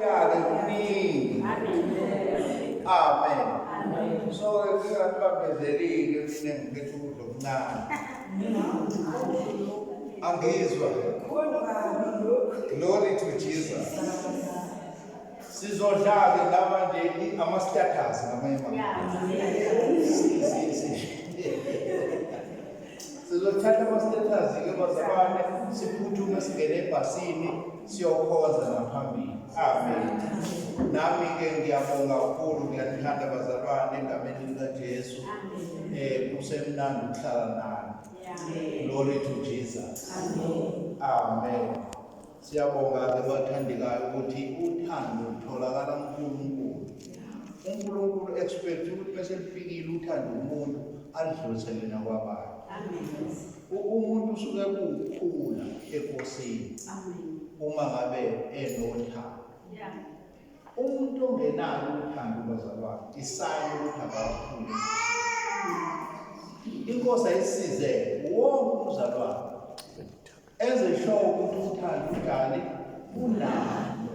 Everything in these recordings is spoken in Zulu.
Yake kuningi. Amen. So ngingakubambezelile mina ngiphethe ukudla okuncane. Angizwa. Glory to Jesus. Sizodlala laba nje ama status ngamanye Sizothatha ama status ke bazalwane siphuthume singene ebhasini siyokhonza ngaphambili amen nami ke ngiyabonga kakhulu ngiyanithanda bazalwane engameni likajesu um eh, kusemnandi ukuhlala nani glory to jesus amen siyabonga-ke bathandekayo ukuthi uthando lutholakala kunkulunkulu unkulunkulu expect ukuthi bese lifikile uthando umuntu alidlulisele nakwabanye umuntu usuke kuwukhula ekosini uma ngabe enothando umuntu ongenalo uthando bazalwane isani ukuthi akakhule inkosi ayisize wonke umzalwane enze sure ukuthi uthando ujali unalo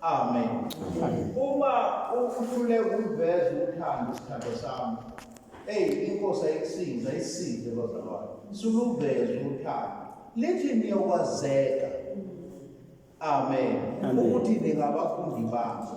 Amen. Uma uhlule ukuveza uthando isithando sami. Ey inkosi ayikusiza isize bazalwane. Suluveza uthando. Lithi niyokwazeka. Amen. Ukuthi ningabafundi bakho.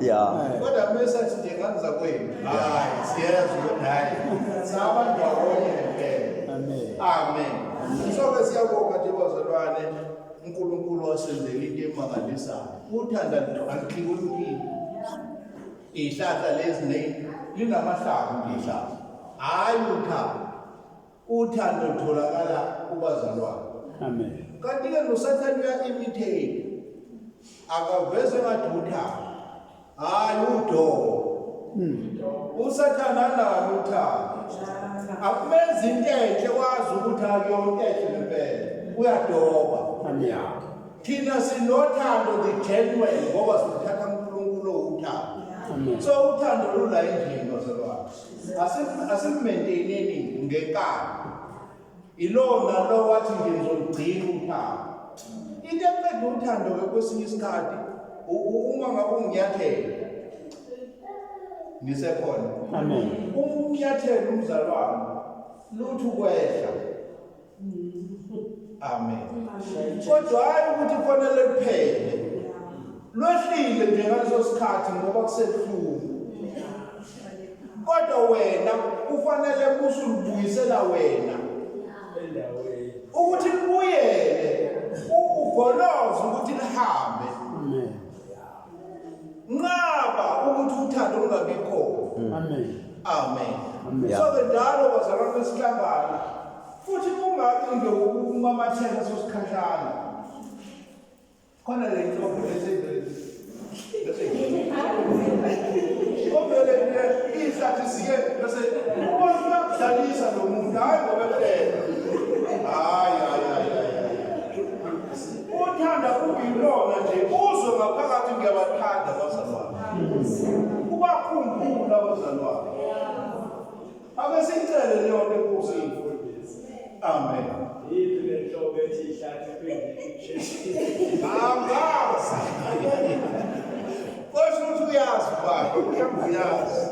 Yeah. Kodwa mesa nje kanza kwenu. Hayi, siyezwa ukuthi hayi. Saba ndawonye ngempela. Amen. Amen. So ke siyabonga nje bazalwane uNkulunkulu wasenzela into emangalisayo. Uthanda nto angikhulukile. Ihlahla lezi ne linamahlavu ihlahla. Hayi uthando. Uthando lutholakala kubazalwane. Amen. Kanti ke noSathane uya-imitate. Akaveze ngathi uthando. Hayi udongo. Hmm. USathane analo uthando. Akumenza into enhle wazi ukuthi akuyona enhle ngempela. Uyadoba. Amen. Thina sinothando the genuine ngoba sithatha uNkulunkulu uthando. So uthando lula endlini bazalwane. asimenteneni ngenkani ilona lo wathi nje ngizolugcina uthando into eqeda uthando-ke kwesinye isikhathi uma ngabe unginyathela ngisekhona uma unginyathela umzalwane lutho ukwehla amen kodwa hayi ukuthi kufanele kuphele lwehlile nje ngaleso sikhathi ngoba kusebuhlungu kodwa wena kufanele kusulubuyisela wena ukuthi libuyele ugoloze ukuthi lihambe nqaba ukuthi uthando lungabikho amen amen so ke njalo bazalwane besihlangana futhi kungathi nje ukumamathela sosikhashana khona le nto eseyivele obele ihlathi siye bese ubona uyakudlalisa lo muntu hhayi ngoba Uthanda kuyilona nje uzwe ngaphakathi ngiyabathanda abazalwane. Ubakhumbula abazalwane. Ake sicele leyo nto enkosini. Amen. Yiphi le nhlobo ethi ihlathi phezulu? Angazi. Kodwa uthi uyazi baba, uyazi.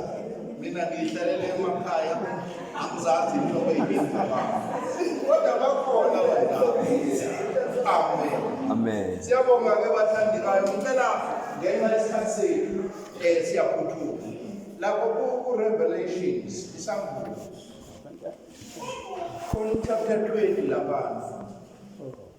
Mina ngihlalele emakhaya. angizazi inhlobo eyibizaba kodwa bakhona amen amen siyabonga ke bathandekayo ngicela ngenxa yesikhathi sethu um siyaphuthuma lapho ku-revelations isambulo khona uchapter 20 labantu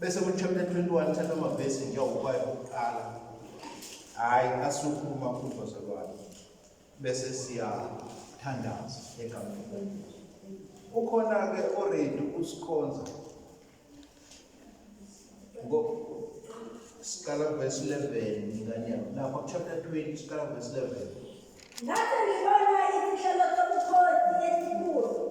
bese kuchapter 21 thatha amavesi njengokuba okuqala hhayi asuke umakhulu wazalwane bese siyathandaza egameni lenkosi ukhona-ke oredi usikhonza siqala verse 11 nganyama lapha chapter 20 siqala verse 11 ngathi ngibona izihlalo sobukhosi esikhulu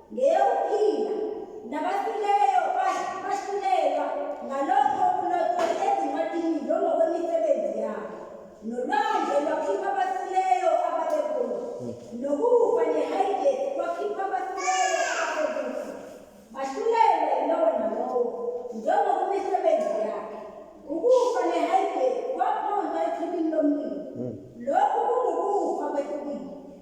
ngeyokuphila, nabafileyo bahlulelwa ngalokho okulotshwe ezincwadini njengokwemisebenzi yabo, nolwandle lwakhipha abafileyo ababekulo, nokufa nehayidesi kwakhipha abafileyo ababekufa, bahlulelwa yilowo nalowo njengokwemisebenzi yakhe, ukufa nehayidesi kwaphonswa echibini lomlilo. Lokhu kungukufa kwesibili.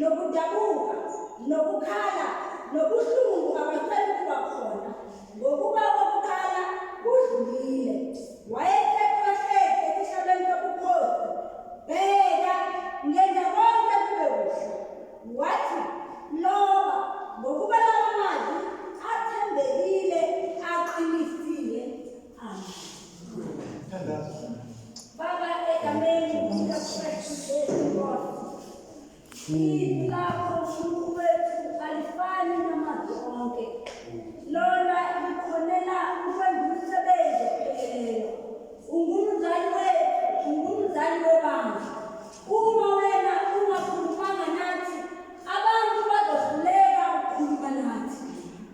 nokudabuka nokukhala nobuhlungu abasayi kuba khona ngokuba kokuqala kudlulile wayeseqohleke esihlabeni sobukhosi bheka ngenza konke kube kuhle wathi loba ngokuba lawo mazwi athembekile aqinisile Baba egameni likaKristu Jesu Nkosi. Izwi lakho Nkulunkulu wethu alifani namazwi onke. Lona likhonela ukwenza umsebenzi opheleleyo. Ungumzali wethu, ungumzali webandla. Uma wena ungakhulumanga nathi, abantu bazohluleka ukukhuluma nathi.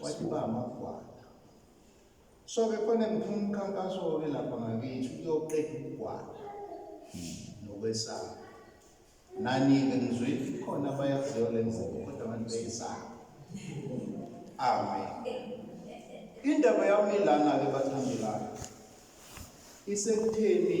wathi ba amagwala so ke khona ngifuna umkhankaso-ke lapha ngakithi uyoqeda ukugwala nokwesaba nani-ke ngizwile khona abayaziyo le mvuko kodwa abantu beyisaba amen indaba yami lana-ke bathandelayo isekutheni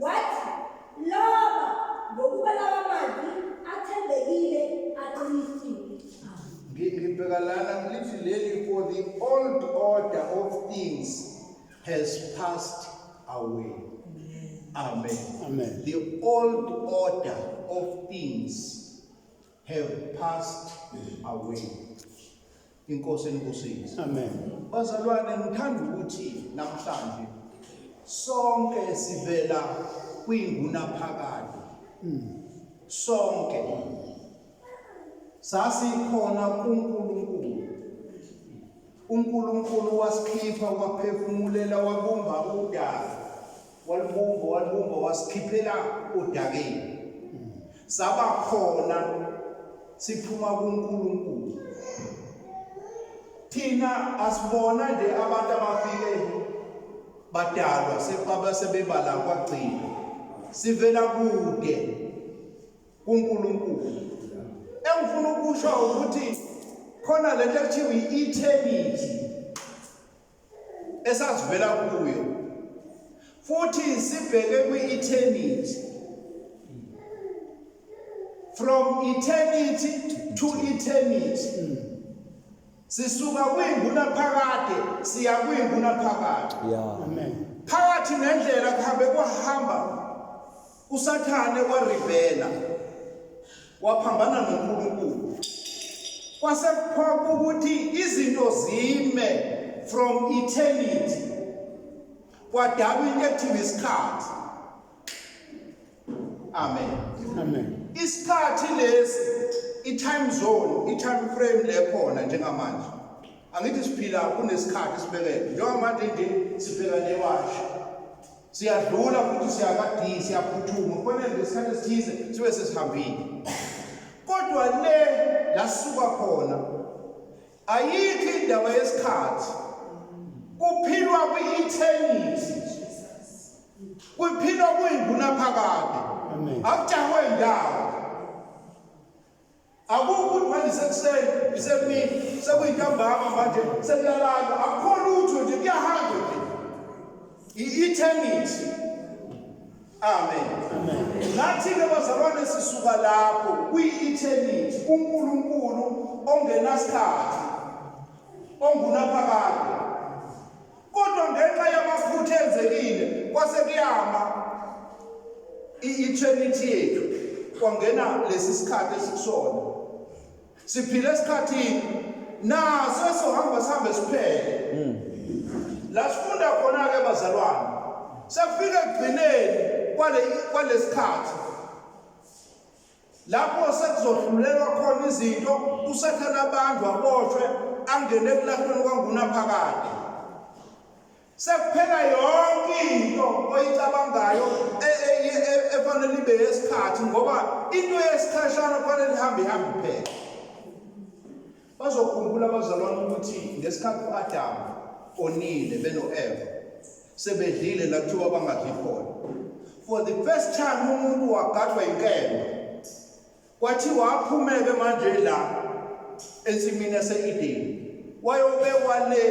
Wathi, Laba, ngokuba lawa mazwi athembekile aqinisile. Ngi- Ngibheka lana lithi leli for the old order of things has passed away. Amen. Amen. The old order of things have passed away. Inkosi enibusise. Amen. Bazalwane ngithanda ukuthi namhlanje sonke sivela kwingunaphakade. Mm. Sonke sasikhona kuNkulunkulu. UNkulunkulu wasikhipha waphefumulela wabumba udaka. walubumba walubumba wasikhiphela odakeni saba khona siphuma kuNkulunkulu thina asibona nje abantu abafike badalwa sebaba sebebala kwagcina sivela kude kuNkulunkulu engifuna ukusho ukuthi khona lento ekuthiwa i-eternity esazivela kuyo futhi sibheke kwi-eternity from eternity to eternity sisuka kwinguna phakade siya kwinguna phakade yeah amen phakathi nendlela kuhambe kwahamba USathane waribhela waphambana noNkulunkulu. Kwase kuphoqa ukuthi izinto zime from eternity. Kwadalwa into ekuthiwa isikhathi. Amen. Amen. Isikhathi lesi i-time zone, i-time frame lekhona njengamanje. Angithi siphila kunesikhathi sibekele. Njengamanje nje sibheka newashi. siyadlula futhi siyakadiyi siyaphuthuma kufanele ngesikhathi esithize sibe sesihambile kodwa le lasuka khona ayikho indaba yesikhathi kuphilwa kwi-eternity kuphilwa kuyingunaphakade akujahwe ndawo Akukho ukuthi manje sekuseni isemini sekuyintambama manje sekuyalandwa akukho lutho nje kuyahamba nje i-eternity amen nathi-ke bazalwane sisuka lapho kwi-eternity unkulunkulu ongenasikhathi ongunaphakade kodwa ngenxa yamaphutha enzekile kwase kuyama i-eternity yethu kwangena lesi sikhathi esikusona siphile esikhathini naso esohamba sihambe siphele hmm. la sifunda khona-ke bazalwane sekufike ekugcineni kwalesikhathi Lapho sekuzohlulelwa khona izinto, uSathane abanjwe aboshwe angene ekulahlweni kwangunaphakade. Sekuphela yonke into oyicabangayo e, e, e, efanele ibe yesikhathi ngoba into yesikhashana kufanele ihambe ihambe iphela. Bazokhumbula abazalwane ukuthi ngesikhathi u-Adamu onile beno-Eva sebedlile la kuthiwa bangadli khona. For the first time umuntu wagadwa inkemba. Kwathiwa aphumeke manje la ensimini yase-Edeni. Wayobekwa le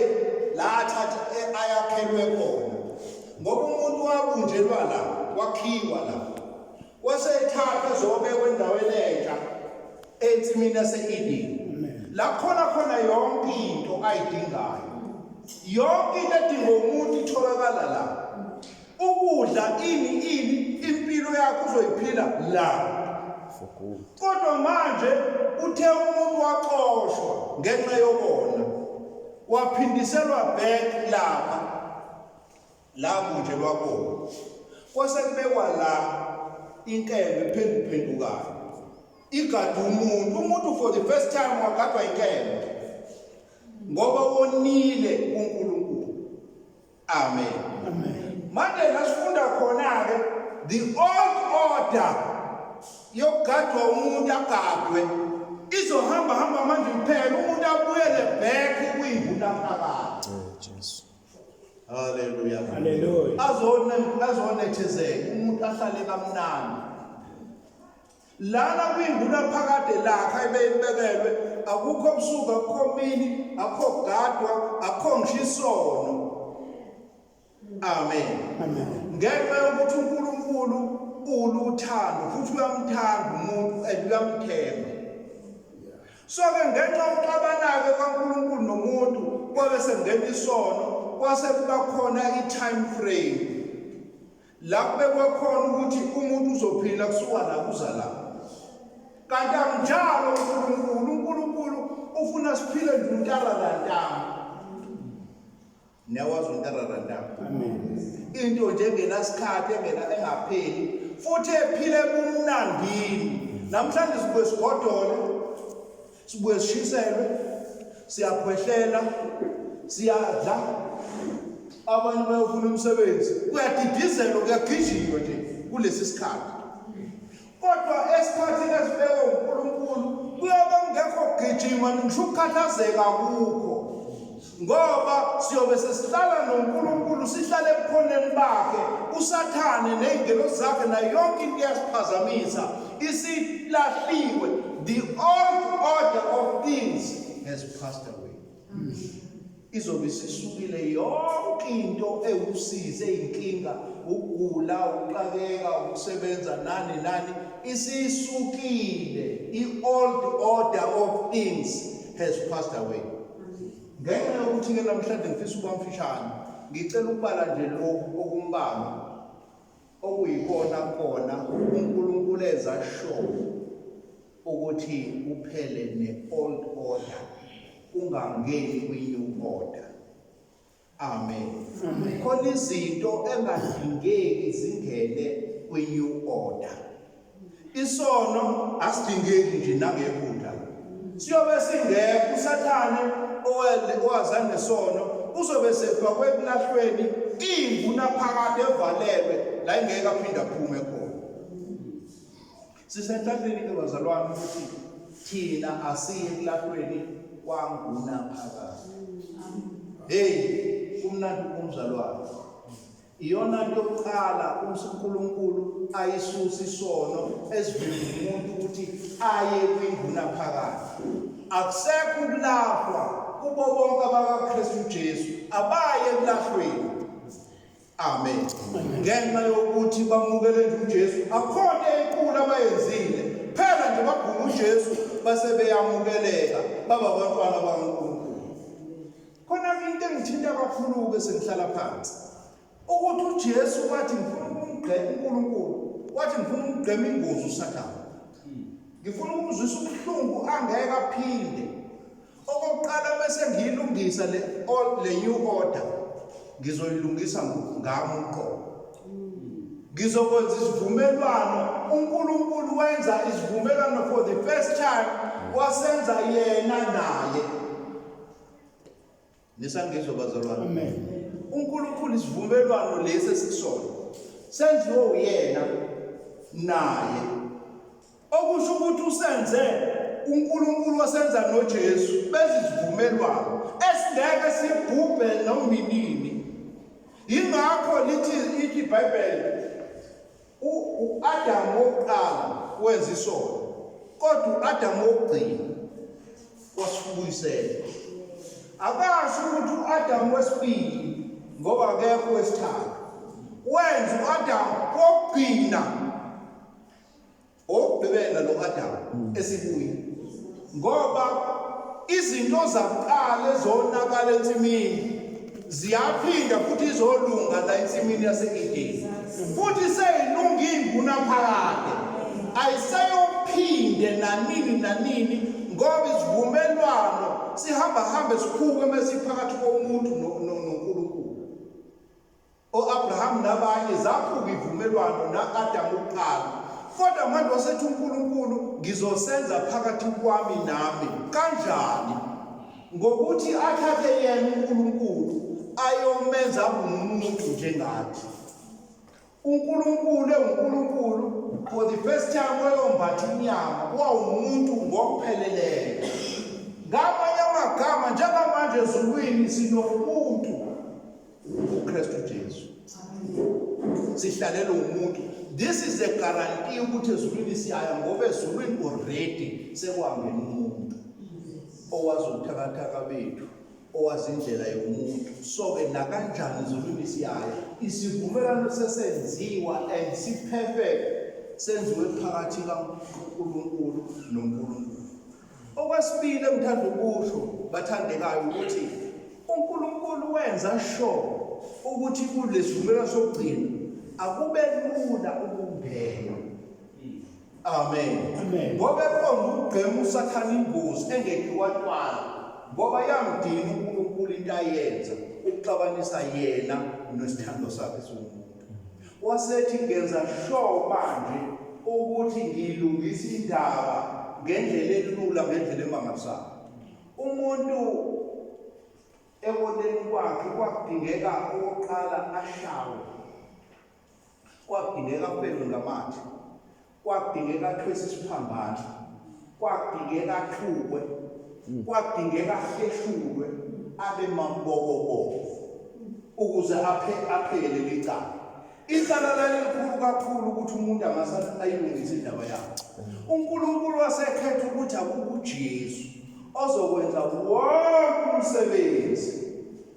la athatha e-, ayakhelwe khona. Ngoba umuntu wabunjelwa la, wakhiwa la. Wase ethatha zobekwa endaweni entsha ensimini yase-Edeni. La khona khona yonke into ayidingayo. Yonke into edinga umuntu itholakala la. Ukudla ini ini impilo yakho uzoyiphila la. Kodwa manje uthe umuntu waxoshwa ngenxa yokona. Waphindiselwa back lapha. la kunje lwakona kwase kubekwa la inkembe phenduphendukayo igada umuntu umuntu for the first time wagadwa inkembe ngoba wonile uNkulunkulu amen amen manje nasifunda khona ke the old order yokugadwa umuntu agadwe izohamba hamba manje kuphela umuntu abuyele back kuyibula phakathi oh, Haleluya. Haleluya. Azone azonethezeka umuntu ahlale kamnandi. Lana kwinguna phakade lakha ebeyibekelwe akukho busuku akukho mini akukho gadwa akukho ngishisono. Amen. Amen. Ngenxa yokuthi uNkulunkulu uluthando futhi uyamthanda umuntu and uyamthemba. So-ke ngenxa yokuxabana-ke kwaNkulunkulu nomuntu kwabe sekungena isono kwase kuba khona i-time frame la kubekwe khona ukuthi umuntu uzophila kusuka la kuza la kanti akunjalo uNkulunkulu uNkulunkulu ufuna siphile nje untalala ntanga Niyakwazi umuntu arara ndaba. Into nje engenasikhathi engena engapheli futhi ephile kumnandini. Namhlanje sibuye sigodole, sibuye sishiselwe, siyakhwehlela, siyadla. Abanye bayofuna umsebenzi. Kuyadidizelwa, kuyagijinywa nje kulesi sikhathi. Kodwa esikhathini esibekwe uNkulunkulu kuyobe kungekho kugijima ngisho ukukhathazeka kukho ngoba siyobe sesihlala noNkulunkulu sihlale ebukhoneni bakhe usathane nezingelo zakhe nayo yonke into iyasiphazamisa isilahliwe the old order of things has passed away izobe isisukile yonke into ewusize inkinga ukugula ukuqakeka ukusebenza nani nani isisukile i-old order of things has passed away ngenxa yokuthi ke namhlanje ngifisa ukuba mfishane ngicela ukubala nje lokhu okumbalwa okuyikona kona uNkulunkulu eza show ukuthi kuphele ne-old order kungangeni kwi-new order amen khona izinto engadingeki zingene kwi-new order Isono asidingeki nje nangephutha. Siyobe singekho uSathane owele owaza nesono uzobe sefakwe ekulahlweni imvu naphakade evalelwe la ingeke aphinde aphume khona. Sisenhlanhleni ke bazalwane ukuthi thina asiye ekulahlweni kwangunaphakade. Hey, kumnandi kumzalwane. Iyona nto yokuqala umse uNkulunkulu ayisusa isono esivimba umuntu ukuthi aye kwinguna phakathi. Akusekho ukulahlwa kubo bonke abakaKristu Jesu abaye ekulahlweni. Amen. Ngenxa yokuthi bamukele uJesu akhona enkulu abayenzile. Phela nje bagula uJesu base beyamukeleka baba abantwana bakaNkulunkulu. Khona into engithinta kakhulu-ke sengihlala phansi ukuthi uJesu wathi ngifuna ukumgqema uNkulunkulu wathi ngifuna ukumgqema ingozi uSathane ngifuna ukumzwisa ubuhlungu angeke aphinde okokuqala bese ngiyilungisa le le new order ngizoyilungisa ngami uqobo ngizokwenza isivumelwano uNkulunkulu wenza isivumelwano for the first time wasenza yena naye Nisangizwa bazalwane. Amen. UNkulunkulu isivumelwano lesi esisona senziwe uyena naye. Okusho ukuthi usenze uNkulunkulu wasenza noJesu bezizivumelwano esingeke sibhubhe nomnini. Yingakho lithi iBhayibheli U-Adamu wokuqala wenza isono, kodwa u-Adamu wokugcina wasifubuyisela. Akasho ukuthi u-Adamu wesibili ngoba akekho wesithathu. Wenza u-Adamu wokugcina, wokugqibela lo-Adamu esibuya. Ngoba izinto zakuqala ezonakala ensimini ziyaphinda futhi izolunga la ensimini yase-Edeni. Futhi seyilunga ingunaphakade. Ayiseyophinde nanini nanini ngoba isivumelwano sihamba hambe sikhuke mesiphakathi komuntu noNkulunkulu. o-Abraham nabanye zaphuka ivumelwano na-Adam kuqala kodwa manje wasethi uNkulunkulu ngizosenza phakathi kwami nami kanjani ngokuthi athathe yena uNkulunkulu ayomenza umuntu njengathi uNkulunkulu ewuNkulunkulu for the first time wayombatha inyama wawumuntu ngokupheleleyo ngamanye amagama njengamanje ezulwini sinomuntu uKristu Jesu sihlalelwe umuntu this is a guarantee ukuthi ezulwini siyaya ngoba ezulwini already sekwangena umuntu owazi ubuthakathaka bethu owazi indlela yomuntu so-ke nakanjani ezulwini siyaya isivumelwano sesenziwa and siphefeke senziwe phakathi kankulunkulu nonkulunkulu Okwesibili engithanda ukusho bathandekayo ukuthi uNkulunkulu wenza sho ukuthi kulesivumela sokugcina akube lula ukungena. Amen. Ngoba eqonda ukugqema usathana ingozi engekhiwantwana ngoba yamdina uNkulunkulu into ayenza ukuxabanisa yena nesithando sakhe somuntu. wasethi ngenza sure manje ukuthi ngiyilungisa indaba ngendlela elula ngendlela emangalisayo umuntu ekoneni kwakhe kwakudingeka okokuqala ashawe kwakudingeka aphelwe ngamathe Kwadingeka athwese isiphambanso. Kwadingeka axhukwe. Kwadingeka ahleshulwe abe mabokoboko ukuze aphe aphele licala. Icala lalikhulu kakhulu ukuthi umuntu angase ayilungise indaba yakhe. UNkulunkulu wasekhetha ukuthi akukuJesu ozokwenza wonke umsebenzi.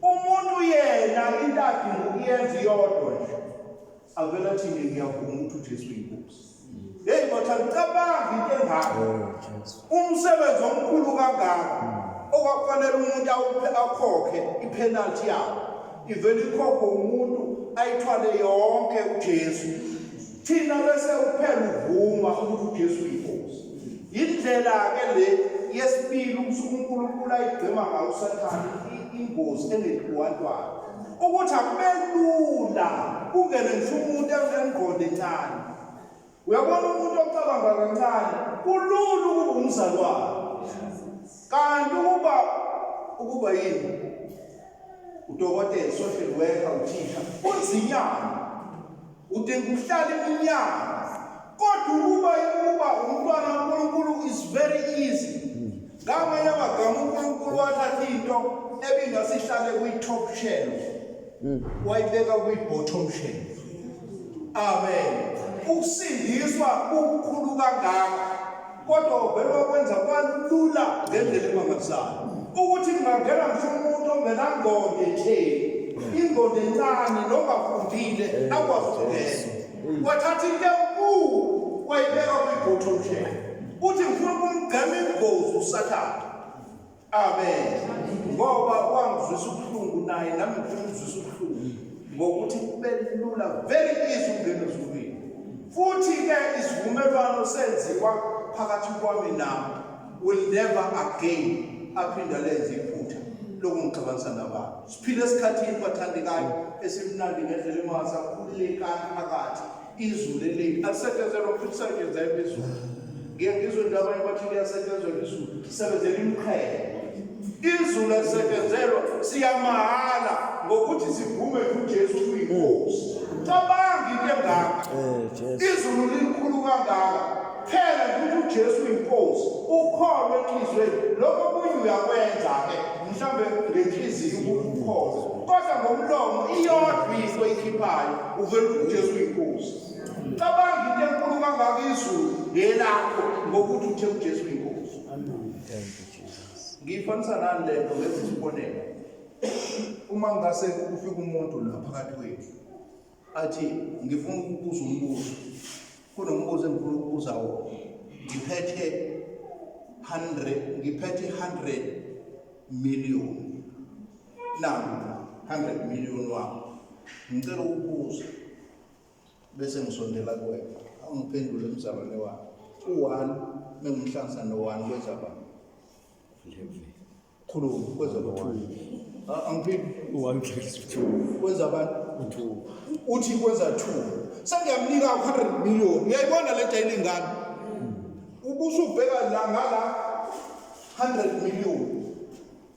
Umuntu yena into adinga ukuyenza iyodwa nje. Avela thini ngiyavuma ukuthi uJesu uyinkosi. Hey kodwa ngicabanga into engaka. Oh, Umsebenzi omkhulu kangaka hmm. okwakufanele umuntu awuphe akhokhe ipenalty yakhe. Ivele ikhokho umuntu ayithwale yonke uJesu. Thina bese uphela uvuma ukuthi uJesu uyinkosi. Indlela ke le yesibili usuku uNkulunkulu ayigcima ngayo uSathane ingozi engethi wantwana. ukuthi akube lula kungene ngisho umuntu engqondo encane uyabona umuntu ocabanga kancane kulula ukuba umzalwane kanti ukuba ukuba yini udokotela social worker uthisha kunzinyana Udinga ukuhlala iminyaka. Kodwa ukuba ukuba umntwana uNkulunkulu is very easy. Ngamanye amagama uNkulunkulu wathatha into ebingasihlale kwi-top shelf. Hmm. Wayibeka kwi-bottom shelf. Amen. Ukusindiswa kukhulu kangaka. kodwa uvele wakwenza kwalula ngendlela emangalisayo ukuthi kungangena ngisho umuntu ongenangqondo etheni ingqondo encane nongafundile akwazi ukungena wathatha into enkulu wayibeka kwibhotho mshela uthi ngifuna ukumgqema ingozi usathane Amen. Ngoba wangizwisa ubuhlungu naye nami ngizwisa ubuhlungu ngokuthi kube lula very easy ukungena ezulwini. Futhi ke isivumelwano senziwa phakathi kwami nawe will never again aphinda lenze iphutha lokungixabanisa nabantu. Siphile esikhathini bathandekayo esimnandi ngendlela emangasakhululekani phakathi izulu eliningi alisetshenzela futhi lisetshenzela imizulu ngiye ngizwe into abanye bathi liyasetshenzela izulu sebenzela imiqhele izulu elisebenzelwa siyamahhala ngokuthi sivume kuJesu kuyinkosi cabanga into engaka eh, izulu likhulu kangaka phela ukuthi uJesu uyinkosi ukholwe enhlizweni lokho kunye uyakwenza ke mhlambe ngenhliziyo ukukholwa kodwa ngomlomo iyodwa into ikhiphayo uvele ukuthi uJesu uyinkosi cabanga into enkulu kangaka izulu ngelakho ngokuthi uthe uJesu uyinkosi ngiyifanisa nani le nto ngenza isibonelo uma ngase kufika umuntu la phakathi kwethu athi ngifuna ukubuza umbuzo kunombuzo engifuna ukubuza wona ngiphethe 100 ngiphethe 100 million naku 100 million wami ngicela ukubuza bese ngisondela kuwena awungiphendule mzalwane wami u-one mengumhlanganisa no-one kwenza bani khuluma kwenza bathuku angiphindi kwenza abantu uthi kwenza two sengiyamnika u-hundred million uyayibona le jayile ingane ubusubheka la ngala 100 million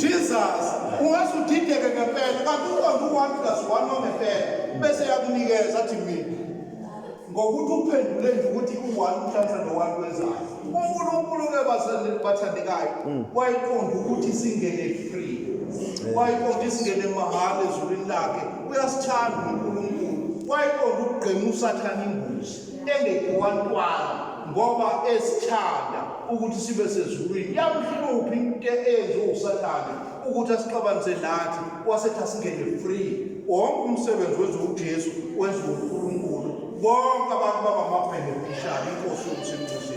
Jesus ungaze udideke ngempela kanti uqonda u-1 plus 1 wangempela bese yakunikeza athi mina ngokuthi uphendule nje ukuthi u-1 uhlanza no-1 kwenzayo unkulunkulu ke bathandekayo mm. wayiqonda ukuthi singene free wayiqonda isingene mahhala ezulwini lakhe uyasithanda unkulunkulu wayiqonda ukugqema usathane imbuzi engekhiwa ntwana ngoba esithanda ukuthi sibe sezulwini yamhluphi into eyenziwa usathane ukuthi asixabanise nathi wasethi asingene free wonke umsebenzi wenziwa ujesu wenziwa unkulunkulu bonke abantu babamabhenefishali inkosi yokusimncusisa